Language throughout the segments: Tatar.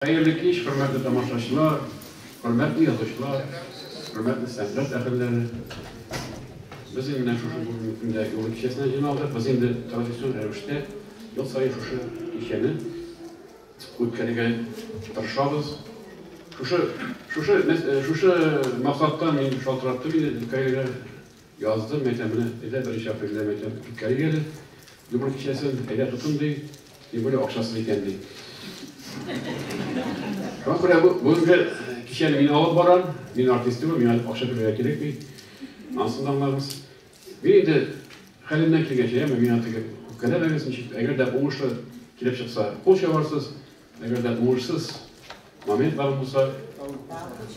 Хәерле кич, хөрмәтле тамашачылар, хөрмәтле язучылар, хөрмәтле сәнгать әһелләре. Без инде менә шушы бүгенге көндә юл кичәсенә җыйналдык. Без инде традицион рәвештә ел саен шушы кичәне үткәрергә тырышабыз. Шушы, шушы, шушы максаттан мин шалтыраттым инде Дилкаилгә. Яздым, әйтәм, менә, әйдә, беренче апрельдә, әйтәм, үткәрик әле Юмор кичәсен, әйдә тотын, ди, тем более акчасыз икән, ди. Шуңа күрә бүгенге кичәне мин алып барам, мин артист түгел, миңа акча түләргә кирәкми. Ансын да аңларбыз. Мин инде хәлемнән килгәнчә, яме миңа теге үпкәләмәгез, ничек, әгәр дә уңышлы килеп чыкса, кул чабарсыз, Әгәр дә уңышсыз моментлар булса,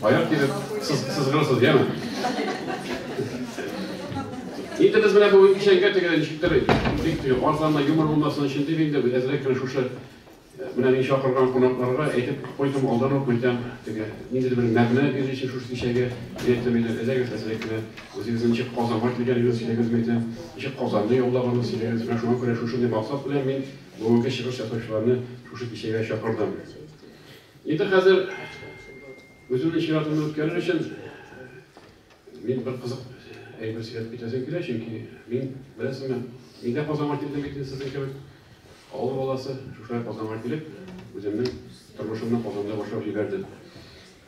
аяк килеп сызгырасыз, яме? Инде без менә бүген кичәнгә тегелән ишеттерик. Бик тиз, арзанна юмор булмасын өчен дип инде без әзрәк кенә шушы менә мин чакырган кунакларга әйтеп куйдым, алдан ук мәйтәм, теге ниндидер бер мәгънә бирер өчен шушы кичәгә әйтәм иде, әзрәк әзрәк кенә үзегезнең ничек Казанга килгәнегезне сөйләгез мәйтәм, ничек Казанны яулаганын сөйләгез, менә шуңа күрә шушындый максат белән мин Бүгенге чыгыш ясаучыларны шушы кичәгә чакырдым. Инде хәзер үземнең чиратымны үткәрер өчен мин бер кызык әйбер сөйләп китәсем килә, чөнки мин, беләсеңме, мин дә Казанга килдем бит сезнең кебек. Авыл баласы, шушылай Казанга килеп, үземнең тормышымны Казанда башлап җибәрдем.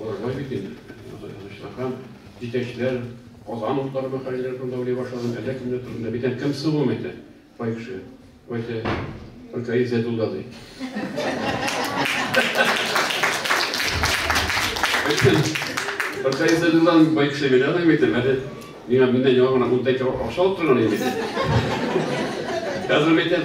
Аларга бит инде җитәкчеләр, җитәкчеләр, Казан утлары мәкаләләре турында уйлый башладым, әллә кемнәр турында. Бит әнкәм сылуым әйтә, бай кеше. Ул әйтә, Ркаи Зәдулла ди. Ркаи Зәдулла бай кеше бит, аны әйтәм, әле миңа миннән яңа гына 10 тәңкә акча алып торган инде. Хәзер әйтәм,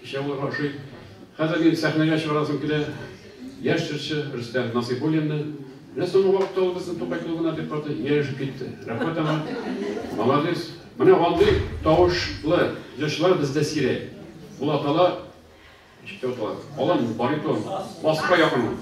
Кичә булырга ошый. Хәзер мин сәхнәгә чыгарасым килә яшь җырчы Рөстәм Насыйбуллинны. Менә соңгы вакытта ул безнең Тукай клубына бик каты ияләшеп китте. Рәхмәт аңа. Молодец. Менә андый тавышлы җырчылар бездә сирәк. Ул атала, ничек тә атала, алан баритон, баска якын ул.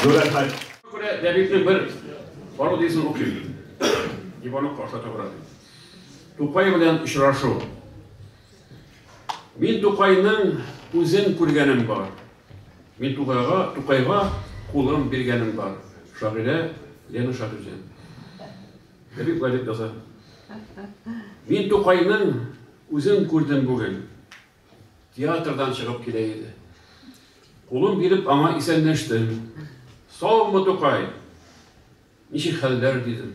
Зур рәхмәт. Күрә дәбикне бер бару дисен укыйм. Иванов каршы табыра. Тукай белән очрашу. Мин Тукайның үзен күргәнем бар. Мин Тукайга, Тукайга кулым биргәнем бар. Шагыйрә Лена Шагыйрҗан. Дәбик Владимир Мин Тукайның үзен күрдем бүген. Театрдан чыгып килә иде. Кулын биреп аңа исәнләштем. Саумы, Тукай! Ничек хәлләр? дидем.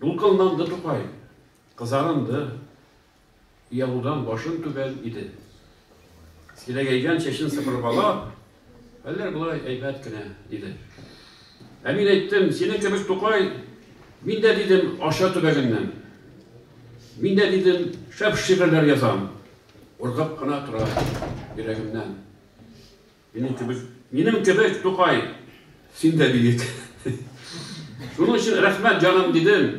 Дулкынланды Тукай. Кызарынды. Оялудан башын түбән иде. Сирәгәйгән чәчен сыпырып ала. Әллә болай әйбәт кенә, диде. Ә мин әйттем, синең кебек Тукай, мин дә, дидем, Арча төбәгеннән. Мин дә, дидем, шәп шигырьләр язам. Ургып кына тора йөрәгемнән. Минем кебек, минем кебек Тукай, син дә биек. Шуның өчен рәхмәт, җаным, дидем.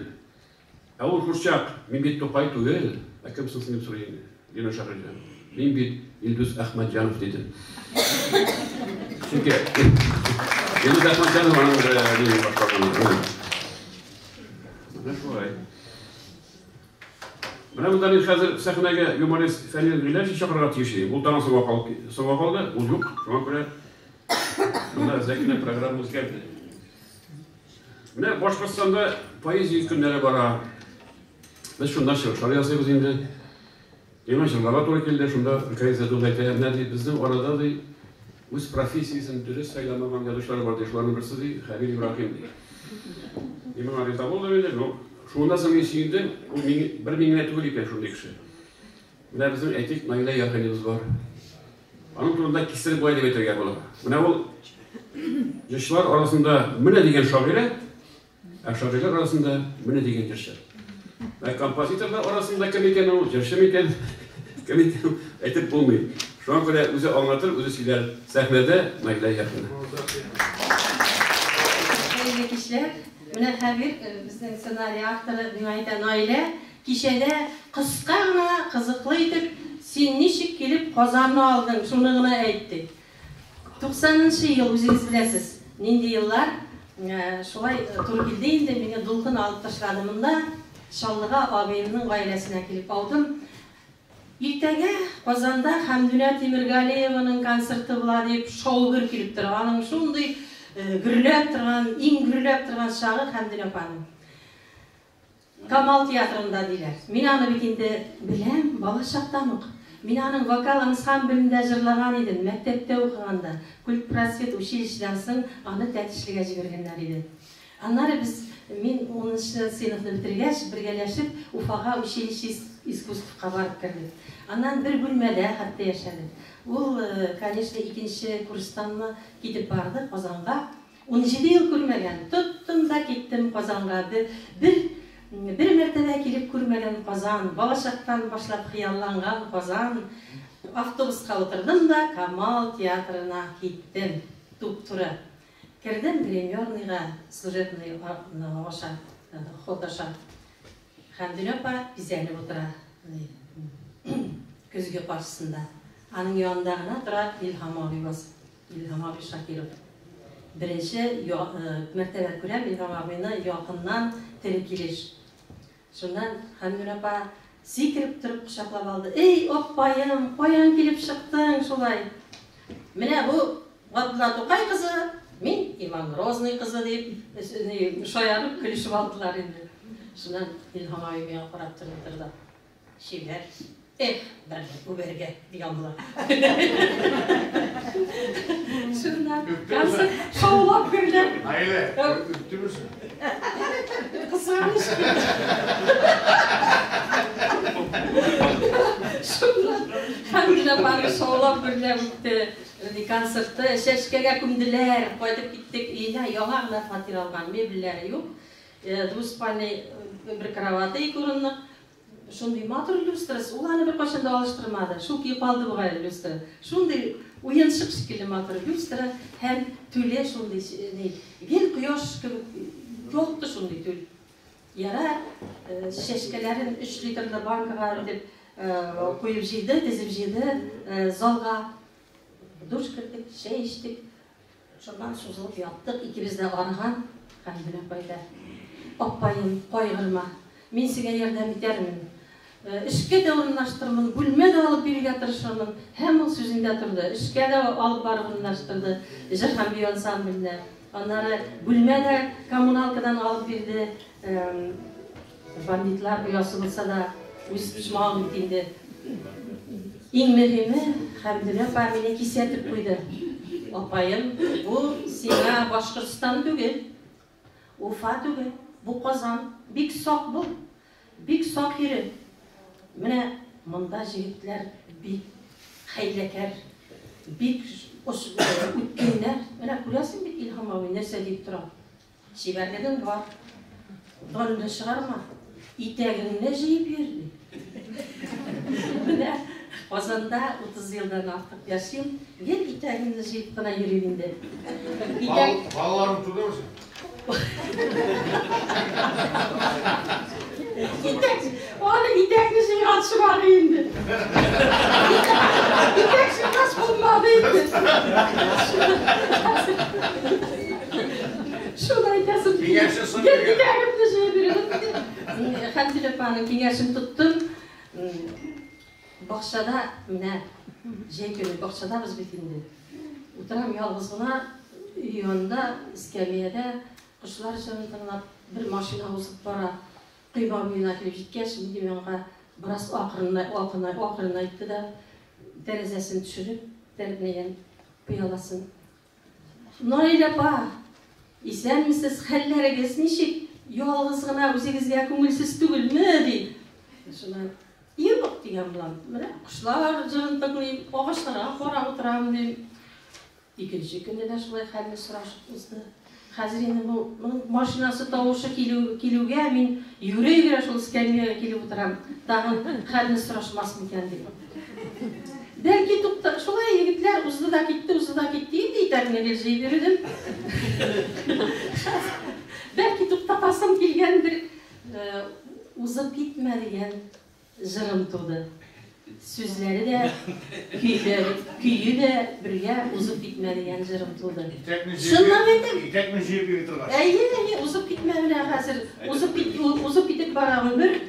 Ә ул курчак, мин бит Тукай түгел, ә кем соң син дип сорый инде. Дин аша көлде. Мин бит Илдус Әхмәтҗанов, диде. Чөнки Илдус Әхмәтҗанов аның дине башкарган. Менә шулай. Менә монда мин хәзер сәхнәгә юморист Фәнил Гыйләҗи чакырырга тиеш идем. Ул тагын соңга калды, соңга калды, ул юк. Шуңа күрә монда әзрәк кенә программа үзгәрде. Менә Башкортстанда поэзия көннәре бара. Без шунда чыгышлар ясыйбыз инде. Миңа җырларга туры килде, шунда Михаил Зәдүн әйтә, менә ди, безнең арада ди, үз профессиясен дөрес сайламаган язучылар бар ди, шуларның берсе ди, Хәбир Ибраһим ди. Мин моңа риза булдым инде, но шуннан соң мин сөендем, ул мин, бер мин генә түгел икән шундый кеше. Менә безнең әйтик, Наилә Яргалибыз бар. Аның турында кистереп болай дип әйтергә була. Менә ул җырчылар арасында менә дигән шагыйрә, ә шагыйрьләр арасында менә дигән җырчы. Ә композиторлар арасында кем икән ул, җырчы микән? Кем икән? Әйтеп булмый. Шуңа күрә үзе аңлатыр, үзе сөйләр. Сәхнәдә Наилә Яхина. Хәерле кичләр. Менә Хәбир, безнең сценарий авторы, миңа әйтә, Наилә, Кичәдә кыска гына, кызыклы итеп Син ничек килеп Казанны алдың, шуны гына әйт, ди. Туксанынчы ел, үзегез беләсез, нинди еллар. Шулай туры килде инде, мине дулкын алып ташлады монда, Чаллыга абыемның гаиләсенә килеп аудым. Иртәгә Казанда Хәмдүнә Тимергалиеваның концерты була, дип шау-гөр килеп тора. Аның шундый гөрләп торган, иң гөрләп торган чагы Хәмдүнә апаның. Камал театрында, диләр. Мин аны бит инде беләм, балачактан ук. Мин аның вокал ансамблендә җырлаган идем, мәктәптә укыганда. Культпросвет училищедан соң аны Тәтешлегә җибәргәннәр иде. Аннары без, мин унынчы сыйныфны бетергәч, бергәләшеп Уфага училище искусствка барып кердек. Аннан бер бүлмәдә хәтта яшәдек. Ул, конечно, икенче курстанмы китеп барды Казанга. Унҗиде ел күрмәгән, тоттым да киттем Казанга Бе бер бер мәртәбә килеп күрмәгән Казан Балачактан башлап хыялланган Казан Автобуска утырдым да Камал театрына киттем Туп-туры кердем гримерныйга служебный а ны аша ход аша Хәмдүнә апа бизәнеп утыра ди көзге каршысында Аның янында гына тора Илһам абый басып Илһам абый Шакиров. Беренче я мәртәбә күрәм Илһам абыйны якыннан, тере килеш. Шуннан Хәмдүнә апа сикереп торып кочаклап алды. Эй, аппаем, каян килеп чыктың шулай? Менә бу Габдулла Тукай кызы, мин Иван Грозный кызы, дип, шаярып көлешеп алдылар инде. Шуннан Илһам абый миңа карап торды-торды. Чибәр. Эх, бәлки күбәргә дигән була. Шунда концерт шаулап гөрләп. Наилә, үттемесең? Кызганыч. Шунда Хәмилә бары шаулап гөрләп үтте. Концертты чәчкәгә күмделәр. Кайтып киттек өенә. Яңа гына фатир алган, мебельләре юк. Э, Двуспальный э, бер кровати, ике урынлык. Шундый матур люстрасы, ул аны беркайчан да алыштырмады. Шул көе калды бугай люстра. Шундый уенчык шикелле матур люстра һәм түле шундый ни, гел кояш кебек ялтты шундый түл. Яра чәчкәләрен өч литрлы банкага итеп куеп җыйды, тезеп җыйды залга. Душ кердек, чәй эчтек. Шуннан сузылып яттык икебез дә арыган хәл белән кайда. Аппаем, кайгырма, мин сиңа ярдәм итәрмен. Эшкә дә урынлаштырырмын, бүлмә дә алып бирергә тырышырмын. Һәм ул сүзендә торды. Эшкә дә алып барып урынлаштырды җыр һәм бию ансамбленә. Аннары бүлмә дә коммуналкадан алып бирде. Бандитлар оясы булса да, үз почмагың бит инде. Иң мөһиме, Хәмдүнә апа мине кисәтеп куйды. Апаем, бу сиңа Башкортстан түгел, Уфа түгел, бу Казан. Бик сак бул, бик сак йөре. Менә монда җегетләр бик хәйләкәр, бик үткеннәр. Менә күрәсең бит, Илһам абый нәрсә дип тора. Чибәрлегең бар. Борынны чыгарма. Итәгеңне җыеп йөр, ди. Менә Казанда 30 елдан артык яшим, гел итәгемне җыеп кына йөрим инде. Итәк... Балаларым түгелмесен? Итәк... Аны итәкне җыйган чыгар инде. Итәк җыйгач булмады инде. Шуны әйтәсем килде. Гел итәгемне җыеп йөрдем. Хәмзил апаның киңәшен тоттым. Бакчада менә җәй көне бакчадабыз бит инде. Утырам ялгыз гына өй янында, эскәмиядә, кошлар җырын тыңлап, бер машина узып бара. Койма буена килеп җиткәч, минем янга бераз акрынайтты да, тәрәзәсен төшереп, тәрбнәгән пыяласын. Наил апа, исәнмесез, хәлләрегез ничек? Ялгыз гына үзегезгә күңелсез түгелме? ди. Шуна юк дигән булам. Менә кошлар җырын тыңлыйм, агачларга карап утырам, дим. Икенче көнне дә шулай хәлне сорашып узды. Хәзер инде бу моның машинасы тавышы килү килүгә, мин йөгерә-йөгерә шул эскәмиягә килеп утырам, тагын хәлне сорашмас микән дип. Бәлки тукта Шулай егетләр узды да китте, узды да китте, инде итәгемне гел җыеп йөрдем. Бәлки туктатасым килгәндер, узып китмә дигән Җырым туды. Сүзләре дә, көе дә бергә узып китмә дигән җырым туды. Чынлап әйтәм. Итәкне җыеп йөри торгач. Әйе, әйе, узып китмә менә хәзер. Узып кит, узып китеп бара гомер.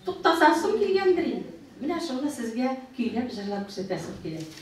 Туктасасым килгәндер инде. Менә шуны сезгә көйләп, җырлап күрсәтәсем килә.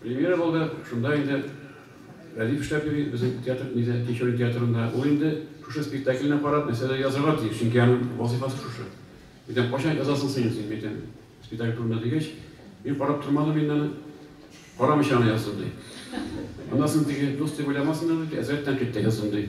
Премьера булды, шунда инде Рәдиф эшләп йөри, безнең театр нидә, Тинчурин театрында. Ул инде шушы спектакльне карап, мәсьәлә язарга тиеш, чөнки аның вазыйфасы шушы. Әйтәм, кайчан язасың син инде, әйтәм, спектакль турында дигәч, мин карап тормадым инде аны, карамыйча гына яздым, ди. Аннан соң теге дус дип уйламасыннар, ди, әзрәк тәнкыйть тә яздым, ди.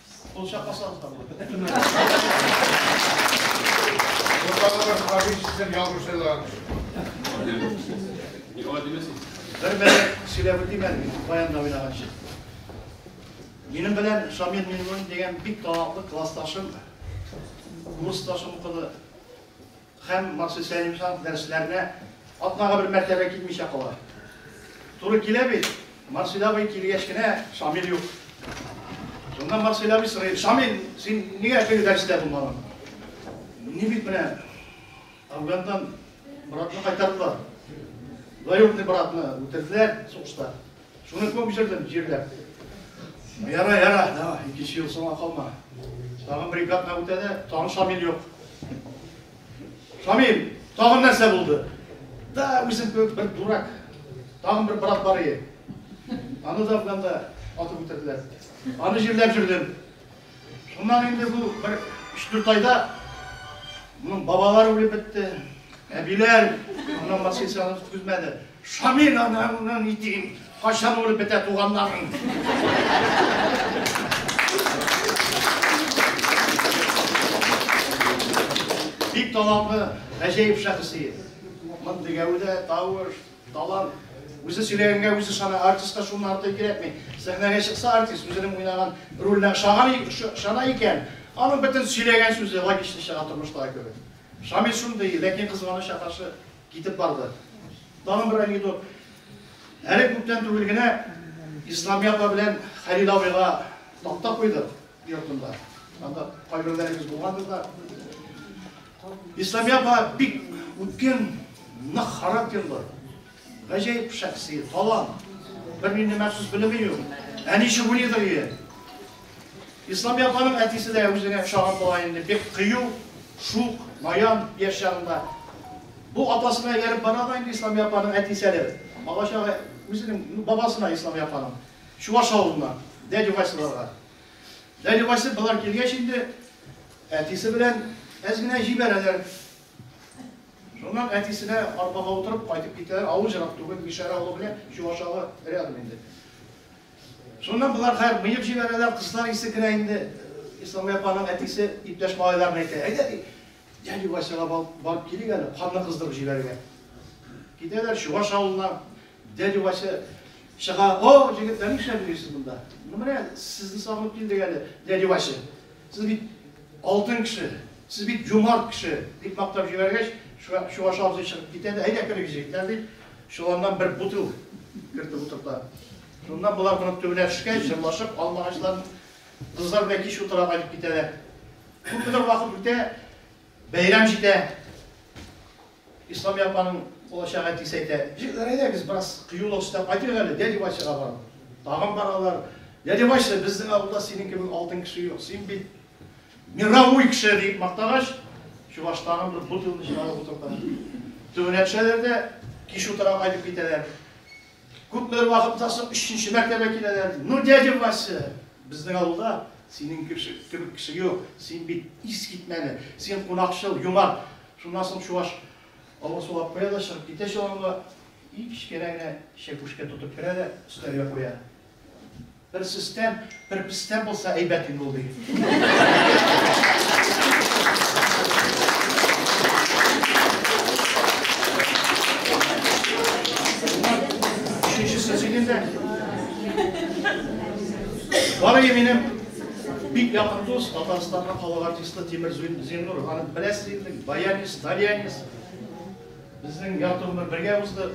Кул чакласагыз да булыр. Укаларыбыз Хабиб сездән ялгышлар. Ни алай димәсез? Бер мәле сөйләп үтим әле, баянда уйнаганчы. Минем белән Шамил Мингулин дигән бик талантлы классташым, курсташым укыды. Һәм Максый Сәлимҗанов дәресләренә атнага бер мәртәбә китмичә кала. Туры килә бит, Марсель абый килгәч кенә Шамил юк. Шунда Марсель абый сорый, Шамил, син нигә теге дәрестә булмадың? Ни бит менә Афгандан братны кайтардылар. Двоюродный братны үтерделәр сугышта. Шуны күп җырдым, җирләп. Яра, яра, давай, икенче ел соңа калма. Тагын бер ике атна үтә дә, тагын Шамил юк. Шамил, тагын нәрсә булды? Да, үзем кебек бер дурак. Тагын бер брат бар ие. Аны да Афганда атып үтерделәр. Аны җирләп җөрдем. Шуннан инде бу бер өч-дүрт айда моның бабалары үлеп бетте, әбиләр, аннан башка һич аны көтмәде. Шамил анаңны ни диген, кайчан үлеп бетә туганнарың? Бик талантлы, гаҗәеп шәхесият. Мондый гәүдә, тавыш, Талант. Үзе сөйләгәнгә үзе ышана, артистка шуннан артык кирәкми. Сәхнәгә чыкса артист, үзенең уйнаган роленә ышаган ышана икән, аның бөтен сөйләгән сүзе логично чыга тормыштагы кебек. Шамил шундый, ләкин кызганычка каршы китеп барды. Тагын бер анекдот. Әле күптән түгел генә Исламия апа белән Хәлил абыйга такта куйдык йортында. Анда кайберләрегез булгандыр да. Исламия апа бик үткен, нык характерлы, гаҗәеп шәхси, талант. Бер нинди махсус белеме юк. Әни чүгүли дөрие. Исламия апаның әтисе дә үзенә ошаган була инде. Бик кыю, шук, наян яшь чагында. Бу апасына ияреп бара да инде Исламия апаның әтиселе. Бала чагы үзенең бабасына Исламия апаның. Чуваш авылына, дядю Василарга. Дәли Вася болар килгәч инде әтисе белән әз генә җибәрәләр. Шуннан әтисенә арбага утырып кайтып китәләр. Авыл җырак түгел, Мишәр авылы белән Чуваш авылы рядом инде. Шуннан болар хәер мыек җибәрәләр, кызлар исе керә инде. Исламия апаның әтисе иптәш малайларына әйтә, әйдә ди, дәли Васяга барып килик әле, канны кыздырып җибәрергә. Китәләр Чуваш авылына, Дядя Вася чыга, О, җегетләр, нишләп йөрисез монда? Ну, менә сезне сагынып килдек әле, дядя Вася. Сез бит алтын кеше, сез бит юмарт кеше, дип мактап җибәргәч, Чуваш абзый чыгып китә дә, әйдә керик, җегетләр, дип, чоланнан бер бутыл кертеп утырта. Шуннан болар моның төбенә төшкәч, җырлашып, алмагачлар кызлар белән кич утыра кайтып китәләр. Күпмедер вакыт үтә, бәйрәм җитә. Исламия апаның булачак әтисе әйтә, Җегетләр, әйдәгез, бераз кыюлык өстәп кайтыйк әле, дядя Васяга барып. Тагын баралар. Дядя Вася, безнең авылда синең кебек алтын кеше юк, син бит мировой кеше, дип мактагач, чуваш тагын бер бутылны чыгарып утырта. Төбенә төшәләр дә кич утыра кайтып китәләр. Күпмедер вакыттан соң өченче мәртәбә киләләр. Ну, дядя Вася, безнең авылда синең кебек кеше юк, син бит искитмәле, син кунакчыл, юмарт. Шуннан соң чуаш авыр суга куя да чыгып китә чоланга, иң кечкенә генә чәкүшкә тотып керә дә өстәлгә куя. Бер сөстән, бер пестән булса әйбәт инде ул, ди. Өченчесе сөйгәндә. Барый минем бик якын дус, Татарстанга калган Иске Тимер Зиннур ханым беләсез инде, баянец, тальянец. Безнең ярты гомер бергә узды.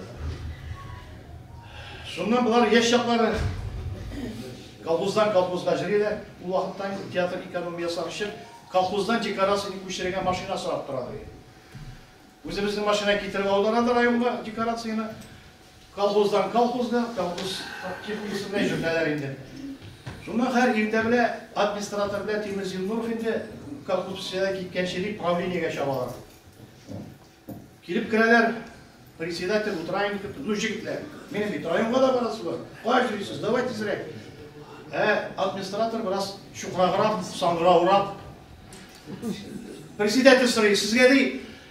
Шуннан болар яшь чаклары колхоздан колхозга җөриләр. Ул вакытта инде театр экономиясе өчен колхоздан декорацияне күчерергә машина сорап торалар. Үзебезнең машина китереп алдылар районга декорацияне. Колхоздан колхозга, колхоз техникасына җибәрәләр инде. Шуннан хәр иртә белә администратор белән Тимер Зиннуров инде колхоз псиядә киткәнче дип правлениегә чабалар. Килеп керәләр, председатель утраем итеп, ну җегетләр, минем бит районга да барасы бар, кая йөрисез, давай тизрәк. Ә администратор бераз чукраграк, саңгыраурак. Председатель сорый, сезгә ди,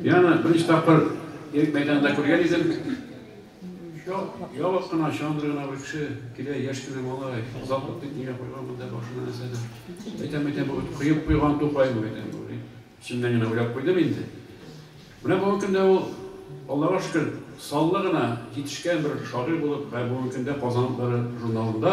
Мин аны беренче тапкыр Ирек мәйданында күргән идем. Ябык кына, чандыр гына бер кеше килә, яшь кенә малай, озак ук бит нигә куйган монда башына нәрсәдер. Әйтәм-әйтәм, бу бит коеп куйган Тукаймы бит әле бу, дип, эчемнән генә уйлап куйдым инде. Менә бүгенге көндә ул, Аллага шөкер, саллы гына җитешкән бер шагыйрь булып, һәм бүгенге көндә Казан утлары журналында,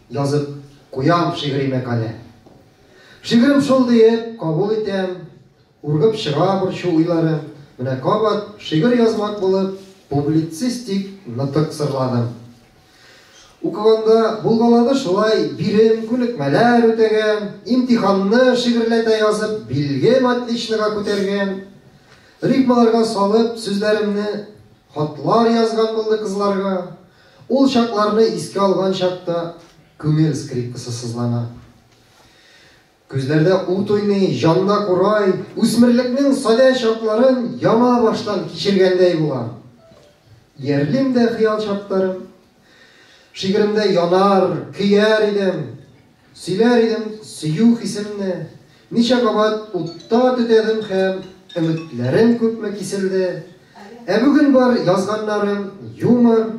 Язып куям шигъри мәкалә. Шигырем шул диеп кабул итәм, Ургып чыга борчу уйларым. Менә кабат шигырь язмак булып Публицистик нытык сырладым. Укыганда булгалады шулай, Бирем, күнекмәләр үтәгән, Имтиханны шигырьләтә язып, Билгем отличнога күтәргән. Рифмаларга салып сүзләремне, Хатлар язган булды кызларга. Ул чакларны искә алган чакта, күңел скрипкасы сызлана. Күзләрдә ут уйный, җанда курай, үсмерлекнең садә чакларын яңа баштан кичергәндәй булам. Иярлим дә хыял чакларым. Шигыремдә янар, көяр идем. Сөйләр идем сөю хисемне, Ничә кабат утта төтәдем һәм Өметләрем күпме киселде. Ә бүген бар язганнарым, юмор,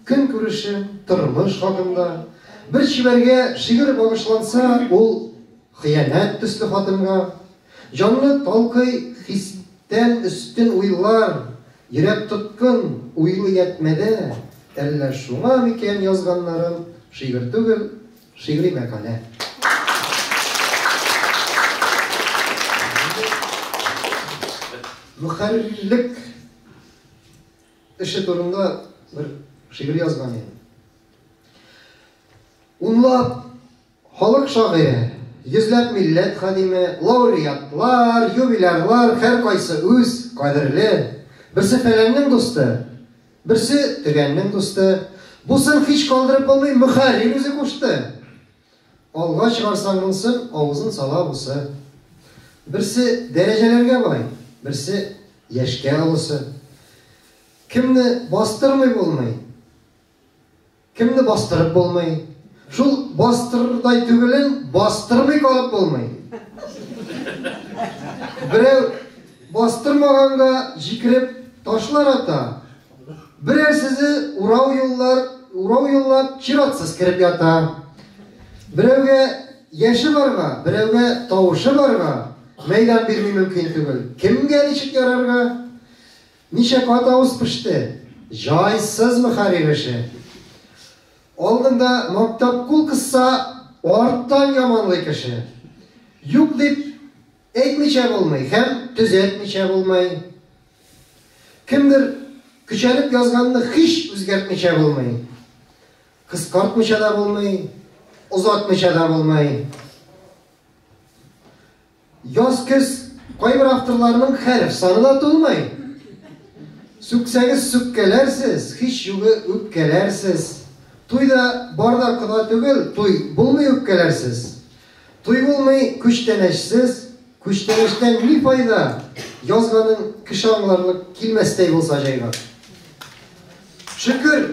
Көнкүрешем, тормыш хакында. Бер чибәргә шигырь багышланса, Ул, хыянәт төсле хатынга. Җанны талкый хистән өстен уйлар, Йөрәк тоткын, уйлый ятьмәдә, Әллә шуңа микән язганнарым Шигырь түгел, Шигъри мәкалә. Мөхәррирлек эше турында бер шигырь язган идем. Унлап халык шагыйре Йөзләп милләт хадиме, лауреатлар, юбилярлар, һәр кайсы үз кадерле. Берсе фәләннең дусты, Берсе, тегәннең дусты. Бусын һич калдырып булмый, мөхәррир үзе кушты. Алга чыгарсаң монысын, авызын сала бусы. Берсе дәрәҗәләргә бай, берсе яшькә олысы. Кемне бастырмый булмый, Кемне бастырып булмый? Шул бастырырдай түгелен бастырмый калып булмый. Берәү бастырмаганга җикереп ташлар ата. Берәрсезе урау юллар, урау юллап чиратсыз кереп ята. Берәүгә яше барга, берәүгә тавышы барга мәйдан бирми мөмкин түгел. Кемгә ничек ярарга? Ничә кат авыз пеште. Җайсыз мөхәррир эше. Алдында мактап кул кысса, арттан яманлый кеше. Юк дип әйтмичә булмый һәм төзәтмичә булмый. Кемдер көчәнеп язганны һич үзгәртмичә булмый. Кыскартмича да булмый, озатмича да булмый. Яз көз кайбер авторларның хәреф саны да тулмый. Сүксәгез сүккәләрсез, хич югы үпкәләрсез. Туй да бар да кода түгел, туй булмый үпкәләрсез. Туй булмый күчтәнәчсез, күчтәнәчтән ни файда, язганың кеше аңларлык килмәстәй булса җайга. Шөкер,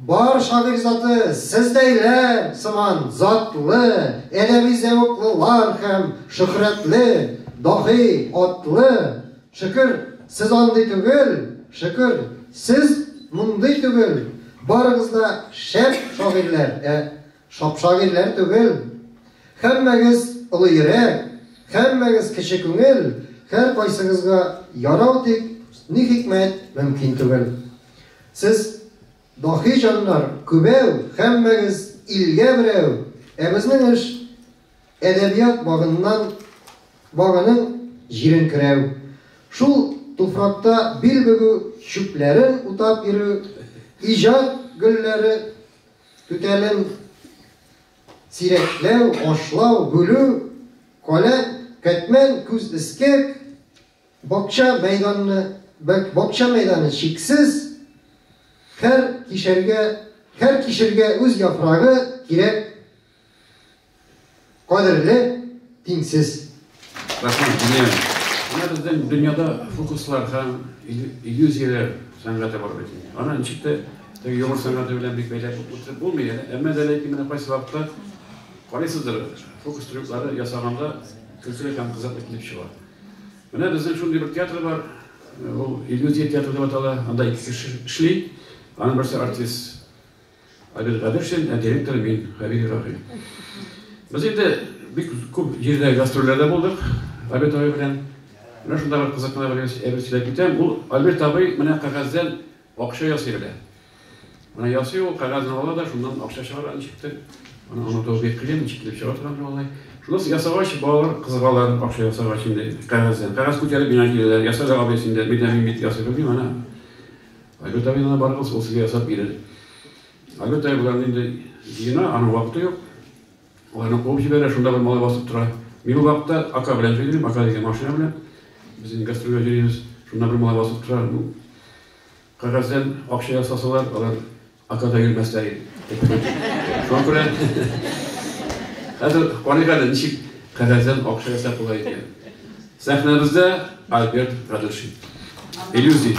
бар шагыйрь заты сездәйләр сыман затлы, әдәби зәвыклылар һәм шөһрәтле, даһи, атлы. Шөкер, сез андый түгел, шөкер, сез мондый түгел. Барыгыз да шәп шагыйрьләр, ә Шапшак ирләр түгел. Һәммәгез олы йөрәк, һәммәгез кече күңел, һәркайсыгызга ярау тик, ни хикмәт, мөмкин түгел. Сез даһи җаннар, күбәү, һәммәгез илгә берәү, ә безнең эш, әдәбият багыннан багының җирен көрәү, шул туфракта бил бөгү, чүпләрен утап йөрү, иҗат гөлләре Түтәлен сирәкләү, ашлау, бүлү, каләм, кәтмән, күз эскек, бакча мәйданны, бакча мәйданы чиксез, хәр кишәргә, хәр кишергә үз яфрагы кирәк Кадерле тиңсез Рахман Диниян. Менә безнең дөньяда фокуслар һәм иллюзияләр сәнгате бар бит. Аны ничек тә теге юмор сәнгате белән бик бәйләп үтеп булмый. Әмма дә ләкин менә кайсы вакытта карыйсыздыр, фокус трюклары ясаганда көлкеле һәм кызык итеп чыга. Менә безнең шундый бер театр бар, ул иллюзия театры дип атала, анда ике кеше эшли, аның берсе артист. Адел Гаделшин, ә директор мин, Хәбир Ибраһим. Без инде бик күп җирдә гастрольләрдә булдык Альберт абый белән. Менә шунда бер кызык кына бер әйбер сөйләп китәм. Ул Альберт абый менә кәгазьдән акча ясый белә. Менә ясый ул, кәгазьне ала да, шуннан акча чыгара ничектер. Аны аңлату бик кыен, ничек килеп чыга торган ул алай. Шунысы ясагач, балалар кызыгалар, акча ясагач инде кәгазьдән. Кәгазь күтәреп миңа киләләр. Ясале абый син дә, мин дә мин бит ясый белмим, ана. Айгөл Давидовна барыгыз ул сезгә ясап бирер. Айгөл Давидовна инде җыена, аның вакыты юк. Ул аны куып җибәрә, шунда бер малай басып тора. Мин бу вакытта Ака белән җыйныйм, Ака дигән машина белән. Без инде гастрольгә җөрибез. Шунда бер малай басып тора, ну, кәгазьдән акча ясасалар, алар Ата да йөрмәсләр иде. Шуңа күрә хәзер карыйк әле, ничек кәгазьдән акча ясап була икән. Сәхнәбездә Альберт Радушин. Иллюзия.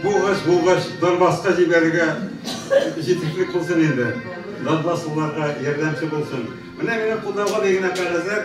Булгач булгач Донбасска җибәрергә җитешлек булсын инде. Донбасслыларга ярдәмче булсын. Менә минем кулдагы бер генә кәгазьләр.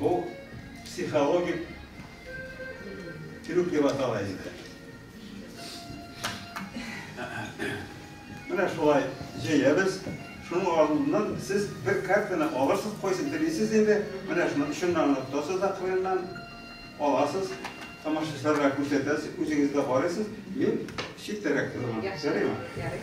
Бу психологик трюк дип атала инде. Менә шулай җәябез. Шуның алдыннан сез бер картаны алырсыз, кайсын телисез инде. Менә шуны өченнән гына тотасыз да кырыннан аласыз. Тамашачыларга күрсәтәсез, үзегез дә карыйсыз. Мин читтәрәк торам. Ярыймы? Ярый.